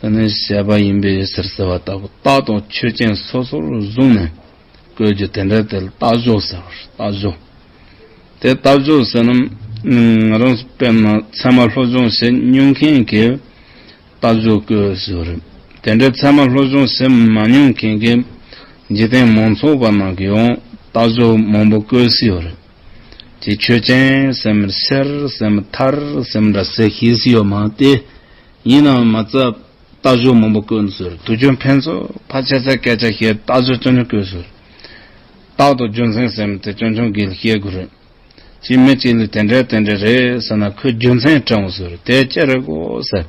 དེ་ནི་བཤད་པ་ཡིན་པས་ཟེར་ཟེར་བ་ལྟ་བུ་རྟགས་དང་ཆོས་ཅན་སོ་སོར་བཟུང་ནས་བཀོད་རྒྱུ་དེ་འདྲ་དེ་ལ་རྟགས་འཇོག་ཟེར་བར་རྟགས་འཇོག་དེ་རྟགས་འཇོག་ཟེར་ན་ང་རང་སྤེལ་མ་ཚད་མ་བློ་སྦྱོང་བྱེད་མྱོང་མཁན་གྱིས་རྟགས་འཇོག་བཀོད་ཟེར་བ་རེད་དེ་འདྲའི་ཚད་མ་བློ་སྦྱོང་བྱེད་མ་མྱོང་མཁན་གྱིས་འཇིག་རྟེན་མང་ཚོགས་པ་ནང་གི་ཡང་རྟགས་འཇོག་མང་པོ་བཀོད་སྲིད་བ་རེད་དེ་ཆོས་ཅན་ཟེར་མི་ཟེར་ཟེར་མི་ཐར་ཟེར་མི་འདྲ་ཟེར་ཤེས་སྲིད་ཡོད་མ་སྟེ། ཡིན་ནའང་མ་རྩ་ལྟ་ཞོར་མང་པོ་བཀོད་འདུག་ཟེར་དུས་རྒྱུ་མཁན་ཚོས་ཕར་ཆད་ཚད་སྐད་ཆ་བཤད་ལྟ་ཞོར་སྐྱོན་ཆུང་བཀོད་ཟེར། རྟག་ཏུ་རྒྱུ་མཚན་ཟེར་མི་དེ་སྐྱོན་ཆུང་གིས་ལ་བཤད་དགོས་རེད། ཅིའི་མི་གཅིག་ལས་དེ་འདྲས་དེ་འདྲས་རེད་ཟེར་ན་ཁོས་རྒྱུ་མཚན་དྲངས་འོང་ཟེར་དེ་ཅི་རེད་གོ་ཟེར།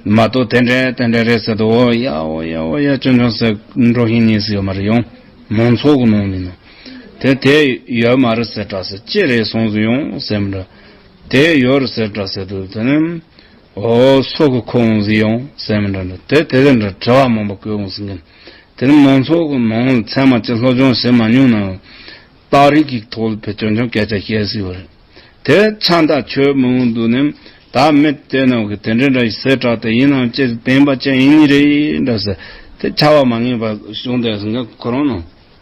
མ་གཏོགས་དེ་འདྲས་དེ་འདྲས་རེད་ཟེར་དུས་འོ་ཡ་འོ་ཡ་འོ་ཡ་སྐྱོན་ཆུང་ཟེར་འགྲོ་བཞིན་ཉན་སྲིད་ཡོད་མ་རེད་ཡང་མང་ཚོགས་ཀྱི་ནང་མིན་ནམ། དེ་དེ་ཡོད་མ་རེད་ཟེར་དྲག་ཟེར་ཅི་རེད་སོང་ཟེར་ཡང་ཟེར་མི་དྲག། དེ་ཡོད་རེད་ཟེར་དྲག་ཟེར་དུས་དེ་ནི། ཨོ་སོག་གི་ཁོ་འོང་ཟིག་ཡོང་ཟེར་མི་འདྲ་འདྲ་དེ་དེ་དེ་འདྲ་དྲི་བ་མང་པོ་བསྐུལ་འོང་ཟིག་གིན། དེ་རིང་མང་ཚོགས་ཀྱི་ནང་ལ་ཚད་མ་ཅིག་སློབ་སྦྱོང་བྱེད་མ་མྱོང་ནའང། རྟགས་རིགས་ཀྱི་ཐོག་ལ་བོད་དོན་ཆུང་སྐད་ཆ་བཤད་ཟིག་པ་རེད། དེ་བས་ཆ་འདའ་ཁྱོད་མི་འོང་འདུག་ནམ་ད་མི་དེ་རྣམས་ཀྱིས་དེ་འདྲ་འདྲ་ཞིག་ཟེར་དྲགས་ཏེ་ཡིན་ནའང་ཅི་ཟེར་བདེན་པ་ཅན་ཡིན་ངེས་རེད་འདྲ་ཟེར། དེ་ཆ་བ་མ་ངེས་པར་བྱུང་བསྡད་ཟིག་གིན་ཁོ་རང་ནང།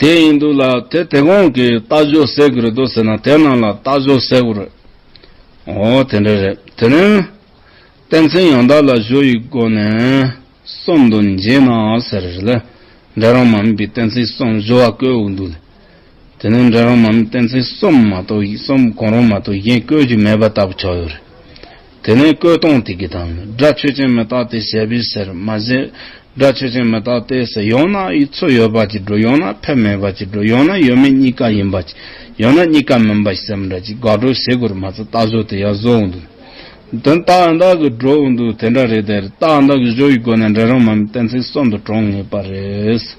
དེ་ཡིན་འདུག་ལ་དེ་དེ་གོང་གི་རྟ་ཞོ་བསྲེག་གི་རེད་དོ་ཟེར་ན་དེ་ནང་ལ་རྟ་ཞོ་བསྲེག་གོ་རེད། ཨོ་དེ་འདྲ་རེད་དེ་ནི། བསྟན་འཛིན་ཡང་དག་ལ་ཞོ་ཡི་སྒོ་ནས་གསུམ་དུ་འབྱེད་ན་ཟེར་རེད་ལ་འདྲེ་རོང་མ་མི་པའི་བསྟན་འཛིན་གསུམ་ཞོ་བ་བཀོལ་འོག་འདུག་ལ། དེ་ནི་འདྲེ་རོང་མ་མི་བསྟན་འཛིན་གསུམ་མ་གཏོགས་གསུམ་གང་རུང་མ་གཏོགས་གཞན་བཀོལ་གྱི་མེད་པ་ལྟ་བུ་ཆགས་ཡོད་རེད། དེ་ནས་བསྐོས་གཏོང་དེ་གི་དང་སྒྲ་ཆོས་ཅན་མི་རྟག་སྟེ་ཞེས་པའི་ཟེར་མ་ཟད། སྒྲ་ཆོས་ཅན་མི་རྟག་སྟེ་ཟེར་ཡང་ན་ཡིག་ཚོགས་ཡོད་པ་གཅིག་འགྲོ་ཡང་ན་ཕལ་མེད་པ་གཅིག་འགྲོ་ཡང་ན་ཡོད་མེད་གཉིས་ཀ་ཡིན་པ་གཅིག་ཡང་ན་གཉིས་ཀ་མིན་པ་ཞེས་སེམས་འདྲ་གཅིག་དགག་སྒྲོ་བྱེད་དགོས་རེད་མ་ཚད་རྟགས་བཟོ་དེ་ཡང་བཟོ་འོང་འདུག་དོན་རྟགས་ཡང་དག་གི་སྒྲོག་འོང་འདུག་དེ་འདྲ་རེད་དེ་རྟགས་ཡང་དག་གི་བཟོ་ཡི་སྒོ་ནས་འགྲེལ་རང་མ་ཡིན་གཏན་ཚིགས་གསུམ་དུ་གྲོངས་ངེས་པ་རེད།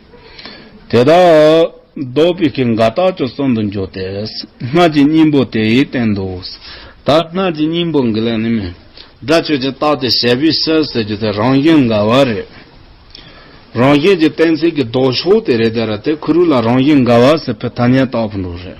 དེ་དག་ལྡོག་པའི་ཀྱི་འགའ་རྟགས་ཀྱི་གསུམ་དུ་འཇོག་སྟེ། སྔགས་ཀྱི་སྙིང་པོ་དེའི་སྟེང་དུ། ད་སྔགས་ཀྱི་སྙིང་པོ་འགི་ལས་ནི་མེད། སྒྲ་ཆོས་ཀྱི་རྟགས་དེ་ཞལ་བུས་གསལ་ཟེར་རྒྱུ་དེ་རང་བཞིན་འགལ་བ་རེད། རང་བཞིན་གྱི་གཏན་ཚིགས་ཀྱི་ལྡོག་ཕྱོགས་དེ་རེད་དེ་ར་དེ་གུ་རུ་ལ་རང་བཞིན་འགལ་བ་ཟེར་ཕོད་ཐ་སྙད་བཏགས་ཕོད་འགྲོ་རེད།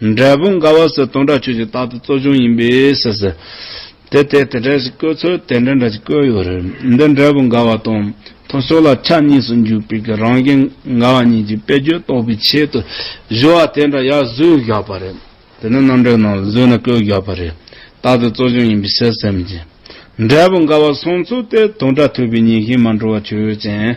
འབྲས་བུ་འགའ་བ་སོགས་སྟོང་ཕྲག་ཁྱུ་གཅིག་རྟག་ཏུ་གཙོ་ཆུང་ཡིན་པས་སོ། དེ་ལྟའི་དེ་འདྲ་ཞིག་བཀོད་ཚུལ་དེ་འདྲ་འདྲ་ཞིག་བཀོད་ཡོད་རེད། འདི་འབྲས་བུ་འགའ་བ་དང་ཐོ་ཤོ་ལ་ཆ་གཉིས་སུ་འཇུག་པའི་གི་རང་བཞིན་འགའ་བ་གཉིས་ཀྱི་དཔེ་བརྗོད་རྟོགས་པའི་ཆེད་དུ་བཞི་བ་དེ་འདྲ་ཡར་བཟོས་བཞག་པ་རེད། དེ་ནི་རྣམ་གྲངས་ནང་ལ་བཟོས་ནས་བཀོད་བཞག་པ་རེད། རྟག་ཏུ་གཙོ་ཆུང་ཡིན་པའི་བཤད་སེམས་ཀྱིས། འབྲས་བུ་འགའ་བ་གསུངས་ཚུལ་དེ་དོན་སྒྲ་ཐོས་པའི་ཉིན་ཤིང་མ་འགྲོ་བ་ཆོས་ཅན།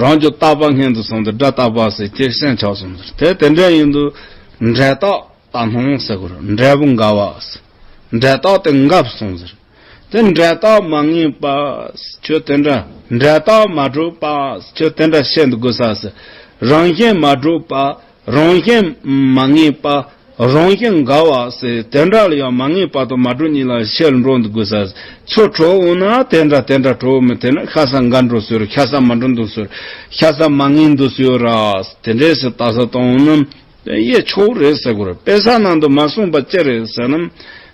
རང་གི་རྟག་པ་སྔན་དུ་སོང་སྟེ་སྒྲ་རྟག་པ་ཟེར་ཁྱེད་སེམས་ཆགས་སོང་ཟེར་དེ་དེ་འདྲ་ཡིན་དུ། འབྲས་རྟགས་ད་སྣང་ཟེར་གོ་རང་འབྲས་བུ་འགའ་བ། འབྲས་རྟགས་དེ་འགབ་སོང་ཟེར། དེ་འབྲས་རྟགས་མ་ངེས་པ། ཁྱོད་དེ་འདྲ་འབྲས་རྟགས་མ་གྲུབ་པ། ཁྱོད་དེ་འདྲ་བཤད་འདུག་གོ་ས་ཟེར། རང་བཞིན་མ་གྲུབ་པ། རང་བཞིན་མ་ངེས་པ། རང་བཞིན་འགའ་བ། དེ་འདྲ་ལ་ཡང་མ་ངེས་པ་དང་མ་གྲུབ་གཉིས་ལ་ཕྱིར་འགྲོ་འདུག་དགོས་ས། ཚུར་གྲོལ་འོང་ན་དེ་འདྲ་དེ་འདྲ་གྲོལ་མི་ཐེ་ན་ཤ་ཟ་འགའ་འགྲོ་ཟེར་རོ་ཤ་ཟ་མ་འགྲོ་འདུག་ཟེར་རོ་ཤ་ཟ་མ་ངེས་འདུག་ཟེར་ར། དེ་འདྲའི་སུ་ལྟ་ས་དང་ནི། ཡེ་ཆོག་རེད་ཟེར་དགོས་ར་དཔེ་ས་ནང་དུ་མ་གསུངས་པ་ཅི་རེད་ཟེར་ན།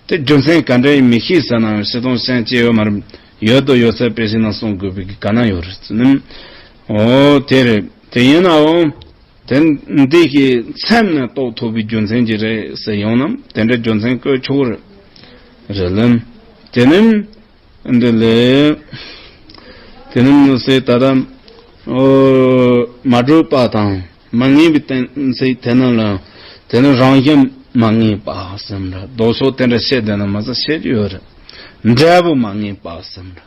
དེ་རྒྱུ་མཚན་ག་འདྲའི་ཡིན་མི་ཤེས་ཟེར་ན་ཤེས་དང་ཤེས་ཀྱི་ཡོད་མ་རེད། ཡོད་དུ་ཡོད་ཚད་དཔེ་ཤེས་ན་གསུངས་དགོས་པའི་ག་ན་ཡོད་རེད་ཟེར་ན། ཨོ་དེ་རེད་དེ་ཡིན་ནའང། དེ་འདི་གི་མཚན་མེད་རྟོགས་ཐུབ་པའི་རྒྱུ་མཚན་གྱིས་རེད་ཟེར་ཡོང་ནམ་དེ་འདྲའི་རྒྱུ་མཚན་བཀོད་ཆོག་གི་རེད། རེད་ལན། དེ་ནི། འདི་ལས། དེ་ནི་མི་སྲིད་ད། མ་གྲུབ་པ་དང་མ་ངེས་པའི་གཏན་ཚིགས་དེ་རྣམས་ལ་དེ་ནི་རང་བཞིན་མ་ངེས་པ་སེམས་རེད་རྡོ་སོགས་དེ་འདྲ་བཤད་འདོད་ན་མ་ཟ་བཤད་ཀྱི་ཡོད་རེད་འབྲས་བུ་མ་ངེས་པ་སེམས་རེད།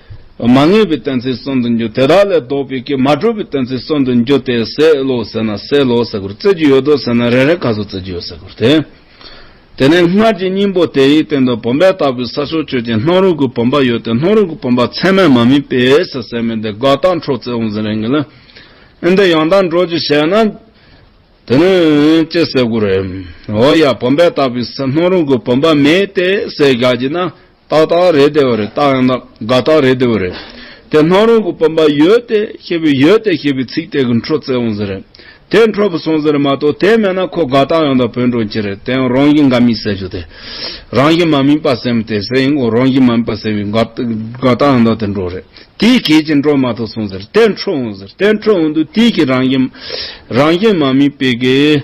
མ་ངེས་པའི་གཏན་ཚིགས་གསུམ་དུ་འགྱུར་དེ་དག་ལས་ལྡོག་པའི་གེགས་མ་གྲུབ་པའི་གཏན་ཚིགས་གསུམ་དུ་འགྱུར་ཏེ་སའི་ལོག་ཟེར་ན་སའི་ལོག་ཟེར་དགུར་བརྩི་རྒྱུ་ཡོད་དོ་ཟེར་ན་རེ་རེ་ཁ་སོ་བརྩི་རྒྱུ་ཡོད་ཟེར་དགུར་ཐལ། དེ་ནས་སྔར་གྱི་སྙིང་པོ་དེའི་སྟེང་དུ་བུམ་པའི་ལྟ་བུའི་ས་ཕྱོགས་ཆོས་ཅན་སྣང་རུང་གི་བུམ་པ་ཡོད་དེ་སྣང་རུང་གི་བུམ་པ་ཚད་མས་མ་དམིགས་པས་ཟེར་ཟེར་མི་འདི་དགག་དང་འཕྲོག་རྩིས་འོང་ཟིན་རེ་ངེས་ལ། ཨེ་འདི་ཡང་དག་འགྲོ་རྒྱུ་བྱས་ན། དེ་ནི་ཅི་ཟེར་དགུར། འོ་ཡ་བུམ་པའི་ལྟ་བུའི་སའི་སྣང་རུང་གི་བུམ་པ་མེད་དེ་ཟེར་བཞག་རྒྱུ་ན། ཏག་ཏག་རེད་བདེ་བ་རེད་ཏག་ཡང་ན་དགའ་ཏག་རེད་བདེ་བ་རེད། དེ་སྣང་རུང་གི་སྤོབས་པ་ཡོད་དེ་ཞེས་པའི་ཡོད་དེ་ཞེས་པའི་ཚིག་དེ་གི་འཕྲོ་བཙལ་འོང་ཟེར་རེད། དེ་འཕྲོ་བུ་སོང་ཟེར་རེད་མ་གཏོགས་དེ་མེད་ན་ཁོ་དགའ་ཏག་ཡང་དག་བོད་འགྲོ་གྱི་རེད་དེ་ཡང་རང་བཞིན་དགའ་མིན་ཟེར་རྒྱུ་དེ། རང་བཞིན་མ་སྨིན་པ་སེམས་དེ་ཟེར་ཡིན་གོ་རང་བཞིན་མ་སྨིན་པ་ཟེར་བའི་དགའ་ཏག་ཡང་དག་དེ་འགྲོ་རེད། དེའི་གལ་ཆེ་འགྲོ་མ་གཏོགས་སོང་ཟེར་རེད་དེ་འཕྲོ་འོང་ཟེར་རེད་དེ་འཕྲོ་འོང་དུས་དེའི་གི་རང་བཞིན་མ་སྨིན་པའི་གི།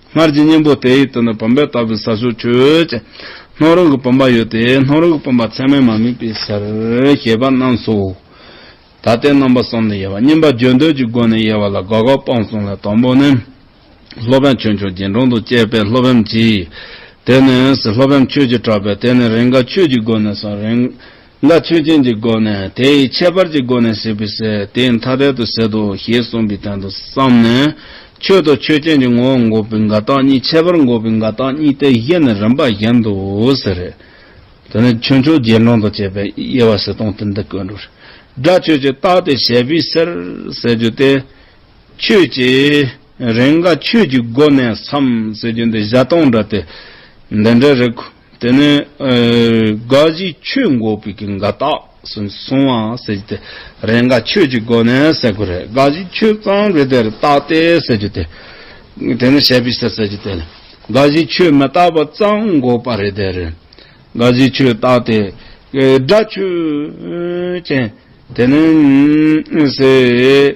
སྔར་གྱི་གཉེན་པོ་དེ་ཡིས་དོན་དུ་བུམ་པའི་ལྟ་བུའི་ས་ཕྱོགས་ཆོས་ཅན། སྣང་རུང་གི་བུམ་པ་ཡོད་དེ་སྣང་རུང་གི་བུམ་པ་མཚན་མས་མ་དམིགས་པའི་ཕྱིར། ཞེས་པ་རྣམས་སོ། ད་ལྟའི་རྣམ་པ་གསུམ་ནི་དབྱེ་བ་གཉིས་པ་བརྗོད་འདོད་ཀྱི་སྒོ་ནས་དབྱེ་བ་ལ་དགག་དགག་སྤང་གསུམ་ལས་དང་པོ་ནི། ལྷོ་བན་ཆོས་མཆོག་རྒྱན་དྲུང་དུ་བསྐྱེད་པའི་ལྷོ་བན་གྱིས། དེ་ནས་ལྷོ་བན་ཆོས་ཀྱིས་གྲགས་པས་དེ་ནི་རེས་འགའ་ཆོས་ཀྱི་སྒོ་ནས་སོ། རེས། ལ་ཆོས་ཅན་གྱི་སྒོ་ནས་དེ་ཡི་ཁྱད་པར་གྱི་སྒོ་ནས་ཟད་པའི་ཟད་དེ་ཐ་དད་དུ་ཟད་དོ་ཞེས་གསུངས་པའི་དོན་དུ་བསམས་ནས། ཆོས་དང་ཆོས་ཅན་གྱི་ངོ་བོ་འགོག་པའི་འགལ་རྟགས་གཉིས་ཁྱད་པར་འགོག་པའི་འགལ་རྟགས་གཉིས་ཏེ་བཞི་ནི་རིམ་པ་བཞིན་དུ་ཟེར་རོ། དེ་ནས་ཆོས་མཆོག་དགེ་སློང་དང་བཅས་པའི་དབྱེ་བ་གསལ་སྟོང་དེ་འདི་ཀུན་རོ། སྒྲ་ཆོས་ཀྱི་རྟགས་ཏེ་བྱེད་པོའི་སར་ཟེར་རྒྱུ་སྟེ། ཆོས་ཀྱི་རེས་འགའ་ཆོས་ཀྱི་སྒོ་ནས་སམ་ཟེར་རྒྱུ་འདི་གཞག་སྟོང་འདྲ་སྟེ། འདི་འདྲའི་རིགས། དེ་ནས་དགའ་བཞིའི་ཆོས་འགོག་པའི་གིང་ག་དག་སུ་སོང་བ་ཟེར་རྒྱུ་དེ་རེས་འགའ་ཆོས་ཀྱི་སྒོ་ནས་གསལ་དགོས་རེད་དགའ་བཞིའི་ཆོས་གཙང་རེད་དེར་བརྟགས་ཏེ་ཟེར་རྒྱུ་དེ། དེ་ནས་ཞལ་པིས་ཏེ་ཟེར་རྒྱུ་དེ། དགའ་བཞིའི་ཆོས་མི་བརྟགས་པར་གཙང་འགོག་པ་རེད་དེར། དགའ་བཞིའི་ཆོས་བརྟགས་ཏེ། དགྲ་ཆོས་ཅན། དེ་ནས། ཟེར།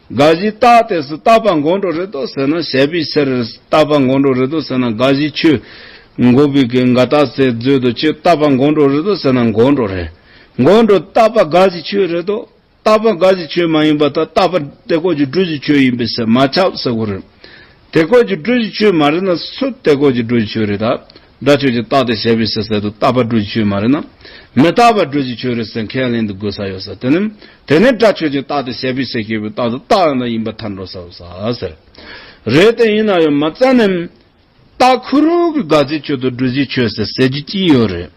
དགའ་བཞི་རྟགས་དེ་སུ་རྟག་པ་མགོ་འགྲོ་རེད་དོ་ཟེར་ན་བཤད་པའི་ཕྱིར། རྟག་པ་མགོ་འགྲོ་རེད་དོ་ཟེར་ན་དགའ་བཞི་ཆོས། མགོ་བོད་ཀྱི་འགའ་རྟགས་ཟེར་མཛོད་དུ་ཆོས་རྟག་པ་མགོ་འགྲོ་རེད་དོ་ཟེར་ན་མགོ་འགྲོ་རེད། མགོ་འགྲོ་རྟག་པ་དགའ་བཞི་ཆོས་རེད་དོ། རྟག་པ་དགའ་བཞི་ཆོས་མ་ཡིན་པ་དག་རྟག་པ་སྟེ་གོ་རྒྱུ་འགྲུལ་བཞི་ཆོས་ཡིན་པས་སེ་མ་ཆགས་ཟེར་དགོས་རེད། དེ་སྐོར་གྱི་སྒྲུབ་བྱེད་ཆོས་མ་རེད་ན་སུ་དེ་སྐོར་གྱི་སྒྲུབ་བྱེད་ཆོས་རེད་ད། སྒྲ་ཆོས་ཀྱི་རྟགས་དེ་ཞེས་པའི་ཕྱི་གསལ་དུ་རྟག་པ་སྒྲུབ་བྱེད་ཆོས་མ་རེད་ན། མི་རྟག་པ་སྒྲུབ་བྱེད་ཆོས་རེད་ཟེར་མཁན་ལན་དུ་དགོས་ས་ཡོད་ས་དེ་ནི། དེ་ནི་སྒྲ་ཆོས་ཀྱི་རྟགས་དེ་ཞེས་པའི་ཕྱི་སྐྱེས་བུའི་རྟགས་དུ་རྟགས་ཡང་དག་ཡིན་པ་ཐར་འགྲོ་ས་ཡོད་ས་ཟེར། རེད་དེ་ཡིན་ན་ཡང་མ་རྩ་ནི། རྟགས་ཁུ་རུ་གི་དགག་བྱའི་ཆོས་དང་སྒྲུབ་བྱའི་ཆོས་ཟེར་ཟེར་རྒྱུ་གཅིག་ཡོད་རེད།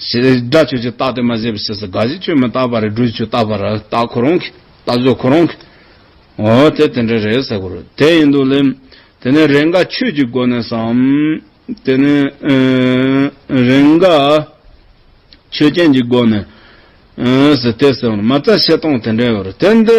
ཞེས་སྒྲ་ཆོས་ཀྱི་རྟགས་དེ་མ་ཟད་པའི་ཕྱིར་སྒྲ་གཞི་ཆོས་མི་རྟག་པ་རེད་སྒྲུབ་ཆོས་རྟག་པ་ར་རྟགས་ཁོ་རང་གི་རྟགས་བརྗོད་ཁོ་རང་གི། འོ་དེ་དེ་འདྲ་རེད་ཟེར་དགོས་རེད་དེ་ཡིན་དུ་ལེན། དེ་ནས་རེས་འགའ་ཆོས་ཀྱི་སྒོ་ནས་སམ། དེ་ནས་རེས་འགའ་ཆོས་ཅན་གྱི་སྒོ་ནས། ཟེར་དེ་ཟེར་བ་ནི་མ་རྩ་བཤད་སྟངས་དེ་འདྲ་ཡོད་རེད་དེ་འདི།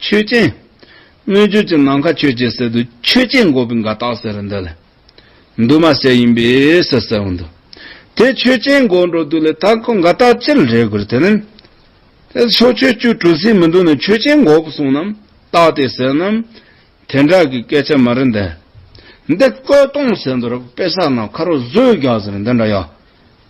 ཆོས་ཅན། སྣོད་བཅུད་ཀྱི་ནམ་མཁའ་ཆོས་ཅན་ཟེར་དུས་ཆོས་ཅན་འགོག་པའི་འགའ་རྟགས་ཟེར་རོ་འདི་ལ། འདུས་མ་བྱས་ཡིན་པས་སོ་ཟེར་བ་འདུག། དེ་ཆོས་ཅན་འགོག་འགྲོ་དུས་ལས་རྟགས་འགའ་རྟགས་ཅིར་རེག་དགོས་དེ་ནི། དེ་ཕྱོགས་ཆོས་བཅུ་གྲུ་གཟིངས་མི་འདུག་ནས་ཆོས་ཅན་འགོག་པ་གསུངས་ནམ་རྟགས་དེ་ཟེར་ནམ། དེ་འདྲ་གི་སྐད་ཆ་མ་རེད་འདི། འདི་བཀོད་གཏོང་ཟེར་འདུག་ར་བུ་དཔེ་ཆ་ནང་ཁ་རོག་བཟོས་རྒྱག་ཟེར་འདི་འདྲ་ཡ།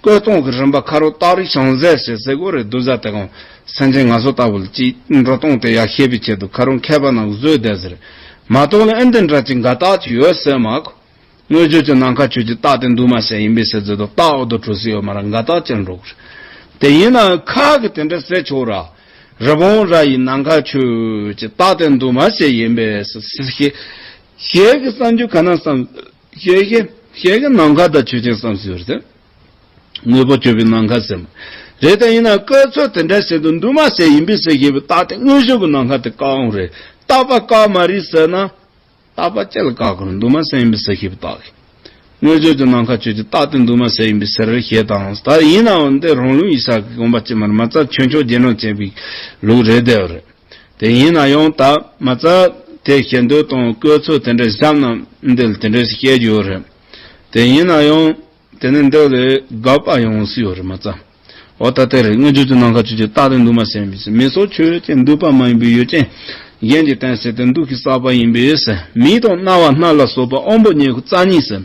བཀོད་གཏོང་གི་རིམ་པ་ཁ་རུ་སྟག་རི་བྱང་ཟས་ཞེས་ཟས་གོ་རེ་བསྡུ་བཟའ་དེ་གང་སེམས་ཅན་ང་ཚོ་ལྟ་བུ་ལ་ཅིས་འགྲོ་གཏོང་དེ་ཡག་ཤེས་པའི་ཆེད་དུ་ཁ་རུ་མཁས་པ་རྣམས་བཟོས་བསྡད་ཟེར། མ་གཏོགས་ལ་ཨེ་འདི་འདྲ་ཅིག་འགའ་རྟགས་ཅིག་ཡོད་ཟེར་མ་གོ། དངོས་བརྗོད་ཀྱི་ནང་ཁ་ཆོས་ཀྱི་རྟགས་དེ་འདུས་མ་བྱས་ཡིན་པས་ཟེར་ཚོད་དུ་རྟགས་འོག་ཏུ་གྲོལ་སྲིད་ཡོད་མ་རེད་འགའ་རྟགས་ཅིག་འགྲོ་གི་རེད། དེ་ཡིན་ནའང་ཁ་གི་དེ་འདྲ་ཟེར་ཆོག་ར། རི་བོང་ར་ཡི་ནང་ཁ་ཆོས་ཀྱི་རྟགས་དེ་འདུས་མ་བྱས་ཡིན་པས་ཟེར། ཞེས་ཀྱི་གསར་འགྱུར་ག་ན་བསམ། ཞལ་གྱི་ཞལ་གྱི་ནམ་མཁའ་དང་ཆོས་ཅན་བསམ་ཟིན་པར་སེམས། དངོས་པོ་བཅོས་པའི་ནམ་མཁའ་སེམས། རེད་དེ་ཡིན་ན་བཀའི་ཚོད་དེ་འདྲ་བྱེད་དུ་འདུག་མ་ཟད་ཡིན་པས་སེ་ཞེས་པའི་རྟགས་དེ་དངོས་བྱུང་གི་ནམ་མཁའ་དེ་བཀག་འོང་རེད་རྟག་པ་བཀག་མ་རེད་ཟེར་ན། རྟག་པ་ཅི་ལ་བཀག་དགོས་འདུག་མ་ཟད་ཡིན་པས་སེ་ཞེས་པའི་རྟགས་ཀྱི། དངོས་བྱུང་གི་ནམ་མཁའ་ཆོས་ཀྱི་རྟགས་དེ་འདུག་མ་ཟད་ཡིན་པས་སེ་རེད་ཞེས་དང་ད་ཡིན་ནའང་འདི་རང་ལུགས་ཡིག་ཆ་གི་དགོངས་པ་སྤྱི་མར་མ་རྩ་ཆོས་མཆོག་རྗེས་གནང་བྱེད་པའི་ལུགས་རེད་དེ་རེད། དེ་ཡིན་ན་ཡང་དག་མ་རྩ་དེ་བཤད་འདོད་དང་བཀོད་ཚུལ་དེ་འདྲ་བཤམས་ན་འདིར་དེ་འདྲ་ཞིག་བཤད་རྒྱུ་ཡོད་རེད། དེ་ཡིན་ན་ཡང་དེ་ནི་འདི་ལས་དགའ་བ་ཡོང་སྲིད་ཡོད་རེད་མ་རྩ་འོ་ད་དེ་རེད་སྔོན་ཆད་ཀྱི་ནང་ཁ་ཆོས་ཀྱི་རྟགས་དེ་འདུག་མ་ཟེར་མི་མི་སོགས་ཆོས་ཅན་འདུག་པ་མ་ཡིན་པའི་ཡུལ་ཅན་གཞན་གྱི་བསྟན་ཟེར་དེ་འདུག་གི་བསགས་པ་ཡིན་པས་མི་དང་རྣ་བ་སྣ་ལ་སོགས་པ་དབང་པོ་ཉེར་རྩ་གཉིས་ཟེར།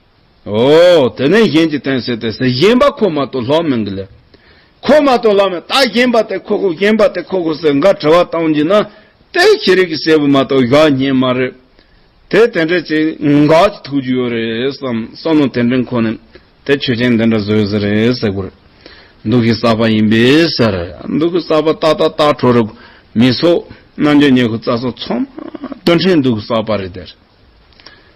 ཨོ། དེ་ནས་གཞན་གྱིས་བསྟན་ཟེར་ཏེ་ཟེར་གཞན་པ་ཁོ་མ་གཏོགས་ལྷག་མི་འགི་ལེ། ཁོ་མ་གཏོགས་ལྷག་མི་རྟགས་གཞན་པ་དེ་ཁོ་ཁོ་གཞན་པ་དེ་ཁོ་ཁོ་ཟེར་འགའ་དྲི་བ་བཏང་རྒྱུ་ན། དེ་ཁྱི་རིགས་ཀྱི་སྲས་པོ་མ་གཏོགས་གཞོགས་སྙེ་མ་རེད། དེ་དེ་འདྲས་ཅི་འགའ་ཅི་ཐུག་རྒྱུ་ཡོད་རེད་བསམ་བསམ་ནོ་དེ་འདྲས་ཁོ་ནས་དེ་ཆོས་ཅན་འདི་འདྲ་བཟོས་ཟེར་རེད་ཟེར་དགོས་རེད། འདུག་གི་གསར་པ་ཡིན་པས་ཟེར། འདུག་གི་གསར་པ་ཏག་ཏག་ཏག་བྲོ་རུ་མི་སོགས་རྣམ་འགྱུར་ཉེ་ཁུ་རྩ་སོགས་ཚང་མ་སྟོན་ཁྲེལ་འདུག་གི་གསར་པ་རེད་དེ་རེད།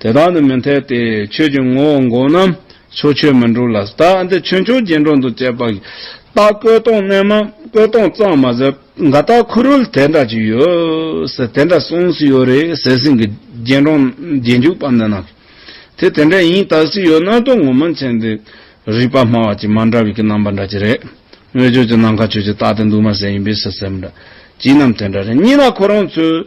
དེ་དག་ནི་མི་འཐད་དེ། ཆོས་ཀྱི་ངོ་བོ་འགོག་རྣམས་ཕྱོགས་ཆོས་མི་འགྲུབ་ལ། རྟགས་འདི་ཆོས་མཆོག་རྗེས་འགྲོ་འདུ་བྱེད་པ། རྟགས་བཀོད་སྟོང་རྣལ་མ་བཀོད་སྟོང་གཙང་མ་ཟེར། འགའ་དག་ཁུ་རུལ་དེ་འདྲ་ཅིག་ཡོད། ཟེར་དེ་འདྲ་གསུངས་སུ་ཡོད་རེད། ཟེར་ཟིན་གྱི་རྗེས་འགྲོ་རྗེས་འཇུག་པ་འདི་རྣམས། དེ་དེ་འདྲ་ཡིན་དག་སུས་ཡོད་ནར་དོགས་ངོ་མ་མཁྱེན་ཏེ། རིགས་པ་སྨྲ་བ་ཅིག་མ་འདྲ་བའི་གི་རྣམ་པ་འདྲ་ཅིག་རེད། དངོས་ཆོས་ཀྱི་ནམ་མཁའ་ཆོས་ཀྱི་རྟགས་དེ་འདུག་མ་ཟེར་ཡིན་པས་སུ་ཟེར་མི་འདྲ། བྱིས་རྣམས་དེ་འདྲ་རེད། གཉིས་ན་ཁོ་རང་ཚོས་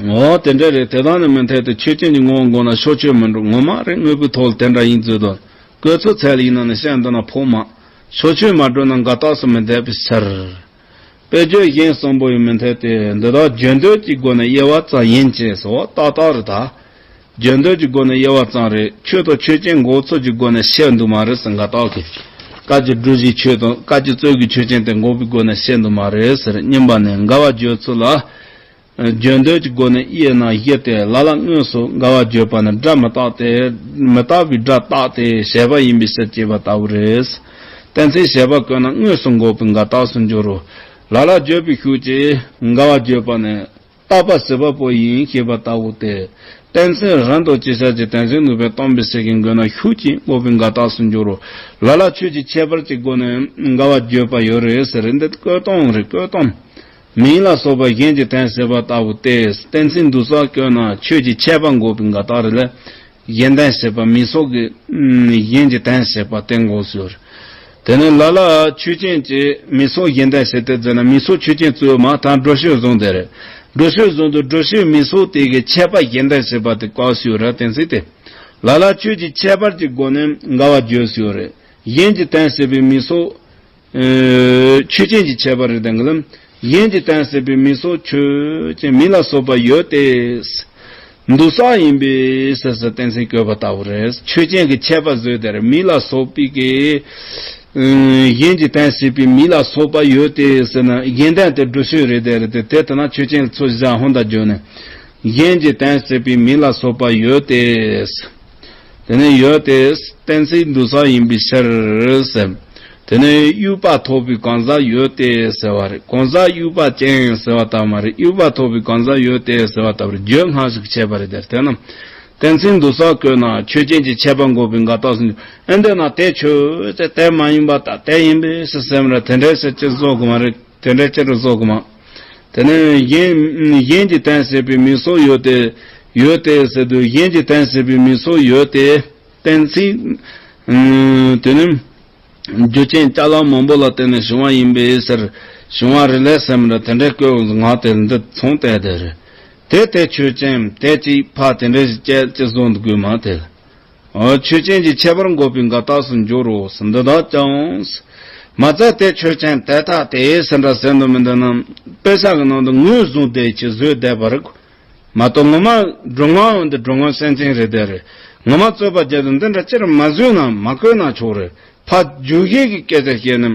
ངོ་བོ་དེ་འདྲ་རེད་དེ་དག་ནི་མི་འཐད་དེ་ཆོས་ཅན་གྱི་ངོ་བོ་འགོག་ན་ཕྱོགས་ཆོས་མིན་འགྲོ་ངོ་མ་རེད་དངོས་པོའི་ཐོག་ལ་དེ་འདྲ་ཡིན་རྫུན་དུ་བཀོད་ཚུལ་ཚད་ལ་ཡིན་ན་ནི་བཤད་འདོད་ན་ཕོག་མ། ཕྱོགས་ཆོས་མ་བགྲོས་ན་འགའ་རྟགས་སུ་མི་འཐད་པའི་ཕྱིར། དཔེ་བརྗོད་གཞན་གསུམ་པོ་ཡང་མི་འཐད་དེ་འདི་དག་བརྗོད་འདོད་ཀྱི་སྒོ་ནས་དབྱེ་བ་ཙམ་ཡིན་ཅེས་སོགས་ཏག་ཏག་རེད་ད། བརྗོད་འདོད་ཀྱི་སྒོ་ནས་དབྱེ་བ་ཙམ་རེད་ཆོས་དང་ཆོས་ཅན་འགོག་ཚུལ་གྱི་སྒོ་ནས་བཤད་འདུག་མ་རེད་ཟེར་འགའ་རྟགས་ཀྱི་དཀའ་སྤྱད་བསྒྲུབ་བཞིན་ཆོས་དང་དཀའ་སྤྱད་རྩོད་ཀྱི་ཆོས་ཅན་དེ་འགོག་པའི་སྒོ་ནས་བཤད་འདུག་མ་རེད་ཟེར་སྙམ་པ་ནས་འགལ་བ་བརྗོད་ཚུལ་ལ། བརྗོད་འདོད་ཀྱི་སྒོ་ནས་དབྱེ་ན་བཞི་སྟེ་ལ་ལ་དངོས་སུ་འགལ་བར་བརྗོད་པ་ནི་སྒྲ་མི་རྟག་སྟེ། མི་རྟག་པའི་སྒྲ་རྟག་སྟེ་བཤད་པ་ཡིན་པའི་ཕྱིར་ཅེས་པ་ལྟ་བུ་རེད། དེ་ཚེ་བཤད་པ་བཀོད་ན་དངོས་སུ་འགོག་པའི་འགལ་རྟགས་སུ་འགྱུར་རོ། ལ་ལ་བརྗོད་པའི་ཤུགས་ཀྱིས་འགལ་བར་བརྗོད་པ་ནི། རྟག་པ་སྲིད་པ་པོ་ཡིན་ཞེས་པ་ལྟ་བུ་སྟེ། དེ་ཚེ་རང་དང་སྤྱི་བྱ་ཅི་དེ་ཚེ་ནུས་པའི་སྟོང་པའི་ཚིག་གིས་འགོད་ན་ཤུགས་ཀྱིས་འགོག་པའི་འགལ་རྟགས་སུ་འགྱུར་རོ། ལ་ལ་ཆོས་ཀྱི་ཁྱད་པར་གྱི་སྒོ་ནས་འགལ་བར་བརྗོད་པ་ཡོད་རེད་ཟེར་རེད་འདི་བཀོད་སྟོང་རེད་བཀོད་སྟོང། མིང་ལ་སོགས་པའི་གཞན་གྱི་དོན་ཟེར་བ་ལྟ་བུ་སྟེ་གཏན་ཚིགས་འདུ་སར་བཀོད་ན་ཆོས་ཀྱི་ཁྱད་པར་འགོག་པའི་འགའ་དག་རེ་ལས། གཞན་དོན་ཟེར་བ་མིང་སོགས་ཀྱི་གཞན་གྱི་དོན་ཟེར་བ་སྟེ་འགོག་ཟུར། དེ་ནི་ལ་ལ་ཆོས་ཅན་གྱི་མིང་སོགས་གཞན་དོན་ཟེར་ཏེ་འཛིན་ན་མིང་སོགས་ཆོས་ཅན་བཙུན་མ་དང་འགྲོ་ཤོས་བཟུང་སྟེ་རེད། འགྲོ་ཤོས་བཟུང་དུ་འགྲོ་ཤོས་མིང་སོགས་དེ་གའི་ཁྱད་པར་གཞན་དོན་ཟེར་བ་དེ་བཀག་ཟུར་ར་གཏན་ཚིགས་ཏེ། ལ་ལ་ཆོས་ཀྱི་ཁྱད་པར་གྱི་སྒོ་ནས་འགའ་བ་བརྗོད་ཟུར། གཞན་གྱི་དོན་ཟེར་བའི་མིང་སོགས་ཆོས་ཅན་གྱི་ཁྱད་པར་རིགས་དང་གླུ། གཞན་གྱིས་བསྟན་ཟིན་པའི་མི་སོགས་ཆོས་ཅན་མི་ལ་སོགས་པ་ཡོད་དེ། འདུ་ས་ཡིན་པས་ཟེར་སོགས་བསྟན་ཟིན་བཀོད་པ་ལྟ་བུ་རེད། ཆོས་ཅན་གྱི་ཁྱད་པར་བཟོས་དེར་མི་ལ་སོགས་པའི་སྐད། གཞན་གྱིས་བསྟན་ཟིན་པའི་མི་ལ་སོགས་པ་ཡོད་དེ་ཟེར་ན་རྒྱན་ལྡན་དེ་འགྲུལ་བཞུད་རེད་དེ། དེ་ལྟ་ན་ཆོས་ཅན་ལ་ཚུལ་བཞག་ཧོན་དང་བརྗོད་ནས། གཞན་གྱིས་བསྟན་ཟིན་པའི་མི་ལ་སོགས་པ་ཡོད་དེ། དེ་ནས་ཡོལ་དེ་བསྟན་སྲིད་འདུ་ས་ཡིན་པའི་ཕྱིར་ཟེར། དེ་ནས་དབྱུག་པ་ཐོགས་པའི་གང་ཟག་ཡོལ་དེ་ཟེར་བ་རེད། གང་ཟག་དབྱུག་པ་ཅན་ཟེར་བ་ལྟར་མ་རེད་དབྱུག་པ་ཐོགས་པའི་གང་ཟག་ཡོལ་དེ་ཟེར་བ་ལྟ་བུར་བརྗོད་སྔགས་ཤིག་བྱས་པ་རེད་དེར་ཐོས་ན། བསྟན་སྲིད་འདུ་ས་བཀོད་ན་ཆོས་ཅན་གྱི་ཁྱད་པར་འགོག་པའི་འགའ་རྟགས་སུ་འགྱུར། ཨེ་འདོད་ན་དེ་ཆོས་ཅན་དེ་མ་ཡིན་པ་ལྟར་དེ་ཡིན་པའི་ཕྱིར་སེམས་ར་དེ་འདྲའི་ཕྱིར་སྤྱིར་བཟོ་དགོས་མ་རེད། དེ་འདྲའི་ཅི་དྲུག་སོགས་གི་མ། དེ་ནས་གཞན་གྱི་དན་ཟེར་བའི་མིང་སོགས་ཡོད་དེ། ཡོད་དེ་ཟེར་དུས་གཞན་གྱི་དན་ཟེར་བའི་མིང་སོགས་ཡོད་དེ། གཏན་ཚིགས། དེ་ནི་རྒྱུ་ཅན་ལྕགས་ལམ་མང་པོ་ལ་བརྟེན་ནས་བྱུང་བ་ཡིན་པས་ཟེར། བྱུང་བ་རེ་ལས་ཟེར་མི་འདྲ་དེ་འདྲའི་བཀོད་པའི་ངག་དེ་འདི་མཚུངས་དད་དེ་རེད་དེ། དེ་ཆོས་ཅན། དད་ཅིག་ཕ་དེ་འདྲའི་བཤད་ཅི་གསུང་དགོས་མ་དེ། ཆོས་ཅན་གྱི་ཁྱད་པར་འགོག་པའི་འགའ་རྟགས་སུ་འགྱུར་རོ། འདི་དག་ཀྱང། མ་རྩ་དེ་ཆོས་ཅན་དེ་དག་དེ་སེམས་སྒྲ་གསལ་འདུག་མི་འདུག་ནམ། དཔེ་བྱང་གི་ནང་དུ་ངོས་བཟུང་དེ་ཅིག་བཟོས་བསྡད་པ་རེད། མ་གཏོགས་ངོ་མ་འགྲོ་ངོ་འདི་འགྲོ་ངོ་སེམས་ཅན་རེད་དེ་རེད། ངོ་མ་རྩོད་པ་བརྒྱད་དུ་འདི་འདྲ་སྤྱིར་མ་བཟོས་ན་མ་བཀོད་ན་ཆོག་རེད། ཕ་རྒྱུད་ཤེས་ཀྱི་སྐད་ཆ་བཤད་ནས།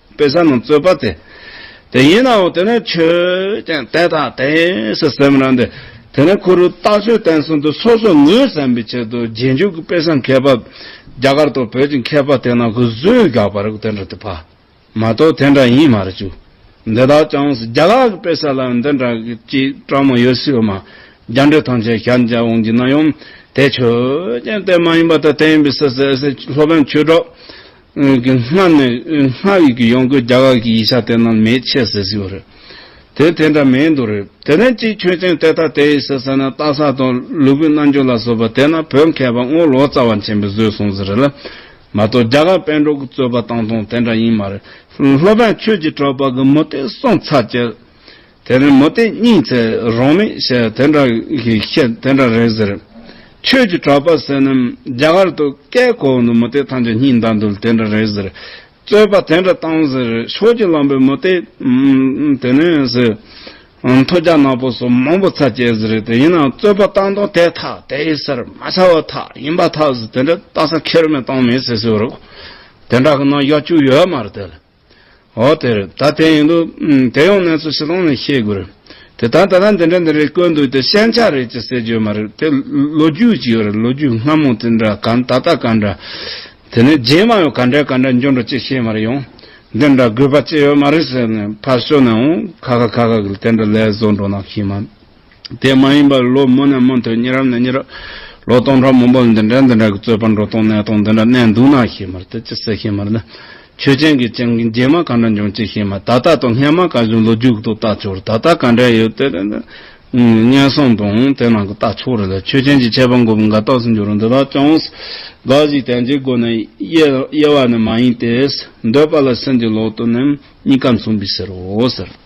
དཔེ་བཟང་རྣམས་རྩོད་པ་དེ། དེ་ཡིན་ནའོ་དེ་ནས་ཆོས་ཀྱང་དེ་དང་དེ་སུ་སེམས་རང་འདི། དེ་ནས་གུ་རུ་རྟག་ཆོས་བསྟན་གསུམ་དུ་སོ་སོ་ངོས་ཟིན་པའི་ཆེད་དུ་རྗེས་འཇུག་གི་དཔེ་བཟང་མཁས་པ། རྒྱ་གར་དང་བོད་ཀྱི་མཁས་པ་དེ་རྣམས་ཀྱི་གཟུགས་རྒྱག་པར་དེ་འདྲ་དུ་ཕབ། མ་གཏོགས་དེ་འདྲ་ཡིན་མ་རེད། འདི་དག་ཀྱང་རྒྱ་ལག་གི་དཔེ་གསར་ལའང་འདི་འདྲ་ཅིག་བཀྲམ་མ་ཡོད་སྲིད་མ། རྒྱ་འགྲེལ་ཐམས་ཅད་ཤར་འཇགས་འོང་གྱི་ན་ཡང། དེ་ཆོས་ཀྱང་དེ་མ་ཡིན་པ་དང་དེ་ཡིན་པའི་སུ་སེ་སེ་སློབ་དཔོན་ཆོས་གྲོགས། སྔོན་གྱི་སྔགས་ནི་སྔགས་ཡིག་གི་ཡོངས་གོས་རྒྱ་གར་གྱི་ཡིག་ཆ་དེ་རྣམས་མེད་ཆེས་ཟེར་གྱི་ཡོད་རེད། དེ་དེ་འདྲ་མེད་འདུག་རེད། དེ་ནས་ཅིག་ཆོས་ཅན་དེ་ལྟ་དེ་ཡིན་ཟེར་ཟེར་ན་རྟ་ཟ་དང་ལུས་པོའི་རྣམ་འགྱུར་ལ་བཟོ་པ་དེ་ན་བོད་མཁས་པ་དངོས་ལོ་ཙཱ་བ་ཆེན་པོས་བཟོས་སོང་ཟེར་རེད་ལ། མ་གཏོགས་རྒྱ་གར་དཔལ་འབྲོག་གི་རྩོད་པ་བཏང་དོན་དེ་འདྲ་ཡིན་མ་རེད། སློབ་དཔོན་ཆོས་ཀྱི་གྲོགས་པ་གི་མུ་སྟེགས་སོང་ཚར་རྗེས། དེ་རིང་མོ་སྟེ་གཉིད་ཚེ་རོགས་མེད་ཞེས་དེ་འདྲ་གི་ཁྱེད་དེ་འདྲ་རེད་ཟེར། ཁྱོད་ཀྱི་གྲོགས་པ་བསོད་ནམས་རྒྱ་གར་དུ་སྐད་གོ་འདུག་མོ་སྟེ་ཐང་ཆ་གཉིད་འདའ་འདུག་དེ་འདྲ་རེད་ཟེར། རྩོད་པ་དེ་འདྲ་བཏང་ཟེར་ཤོག་ཅིག་ལམ་པོས་མོ་སྟེ། དེ་ནས་ཟེར། མཐོ་རྒྱ་ནག་པོ་སོ་མང་པོ་ཚ་སྐྱེས་ཟེར་དེ་ཡིན་ན་རྩོད་པ་བཏང་དོན་དེ་ཐག་དེའི་སར་མ་ཚ་བ་ཐག་ཡིན་པ་ཐག་ཟེར་དེ་འདྲ་བཏང་ས་ཁྱེར་མེད་བཏང་མེད་ཟེར་ཟེར་བ་རེད། དེ་འདྲ་གི་ནང་གཡོག་བཅུག་ཡོད་མ་རེད་དེ་ལ། འོ་དེར་ད་དེ་ཡིན་འདུག་དེ་ཡང་གནས་ཚུལ་ཞིག་ལངས་ནས་ཤེས་དགོས། དེ་ལྟར་ད་ལྟ་འདི་འདྲ་འདི་རེད་བཀོད་འདུག་དེ་ཤན་ཆགས་རེད་ཅེས་ཟེར་རྒྱུ་མ་རེད་དེ་ལོ་རྒྱུས་ཅིག་རེད་ལོ་རྒྱུས་སྔ་མོ་དེ་འདྲ་ག་ད་ལྟ་ག་འདྲ། དེ་ནས་རྗེས་མ་ཡང་ག་འདྲ་ག་འདྲ་འགྱུར་འགྲོ་ཅེས་ཤེས་མ་རེད་ཡང་འདི་འདྲ་དགོས་པ་ཅི་ཡོད་མ་རེད་ཟེར་ནས་ཕར་ཞོག་ནའང་ཁ་ཁ་ཁ་ཁ་གིས་དེ་འདྲ་ལས་བཟོ་འགྲོ་ན་ཤེས་མ་དེ་མ་ཡིན་པར་ལོ་མོ་ནས་མོ་དོན་གཉིས་རབས་ནས་གཉིས་རབས། ལོ་སྟོང་ཕྲག་མང་པོར་འདི་འདྲ་འདི་འདྲ་གི་རྩོད་པ་འགྲོ་སྟངས་གནས་སྟངས་འདི་འདྲ་གནས་འདུག་ན་ཤེས་མ་ཐུབ་ཅི་ཟེར་ཤེས་མ་ཐུབ། ཆོས་ཅན་གྱི་སྤྱན་གྱི་རྗེས་མ་ག་འདྲ་འབྱུང་ཅི་ཤེས་མ་ཐུབ་ད་ལྟ་དང་སྔན་མ་ག་བཞིན་ལོ་རྒྱུགས་ཏུ་བལྟ་ཆོག་རེད་ད་ལྟ་ག་འདྲ་ཡོད་དེ་དེ་འདྲ། སྙན་སེང་དང་དེ་ནང་གི་བལྟ་ཆོག་རེད་ལ་ཆོས་ཅན་གྱི་ཆད་པ་འགོ་བོ་འགའ་རྟགས་སུ་འགྱུར་རུང་འདི་དག་ཅུང་ཟད་འགའ་ཞིག་དན་ཅིག་སྒོ་ནས་དབྱེ་དབྱེ་བ་ནི་མ་ཡིན་ཏེ། འདོད་པ་ལ་སེམས་ཀྱི་ལོག་ཏུ་ནི་གཉིས་ཀ་མཚུངས་པས་ཟེར་རོ་ཟེར།